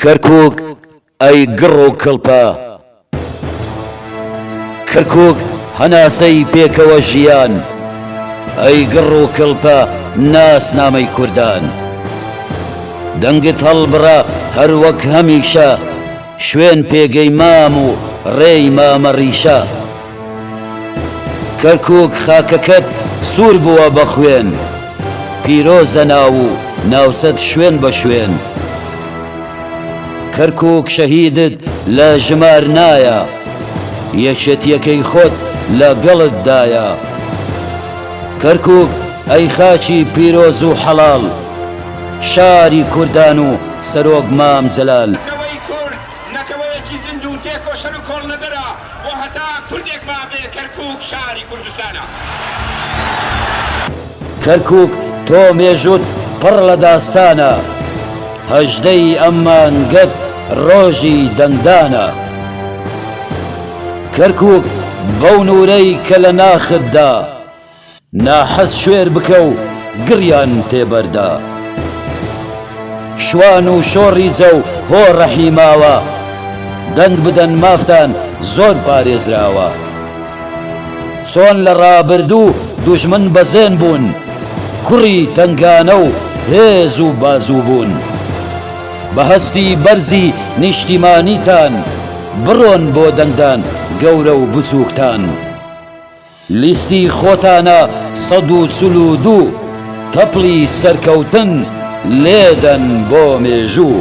کەرکوک ئەی گڕ و کڵپە کەرکوک هەناسەی پێکەوە ژیان ئەی گڕ و کڵپە ناسنامەی کوردان دەنگت هەڵبڕە هەر وەک هەمیشە شوێن پێگەی مام و ڕێی مامە ڕیشە کەرکوک خاکەکەت سور بوە بە خوێن. پیرۆزە ناو و ناوچەت شوێن بە شوێن. کەرکوک شەهیدت لە ژمار نایە. یەکێتیەکەی خۆت لە گەڵت دایە. کەرکوک ئەی خاکی پیرۆز و حەڵال. شاری کوردان و سەرۆک مام جەلال. نەتەوەی کورد نەتەوەیەکی زیندو تێکۆشەرو کۆڵنەدەرە. بۆ هەتا کوردێک مابێ کەرکوک شاری کوردستانە. کەرکوک تۆ مێژوت پڕ لە داستانە. هەژدەی ئەم مانگەت ڕۆژی دەنگدانە. کەرکوک بەو نورەی کە لە ناختدا. ناحەز کوێر بکە و گڕیان تێ بەردە. شوان و شۆڕی جە و هۆ ڕەحی ماوە. دەنگ بدەن مافتان زۆر پارێزراوە. چۆن لە ڕابردوو دوژمن بەزێن بوون. کوڕی تەنگانە و هێز و بازوو بوون. بە هەستی بەرزی نیشتیمانیتان. بڕۆن بۆ دەنگدان گەورە و بچووکتان. لیستی خۆتانە سەد و چل و دوو تەپڵی سەرکەوتن لێدەن بۆ مێژوو.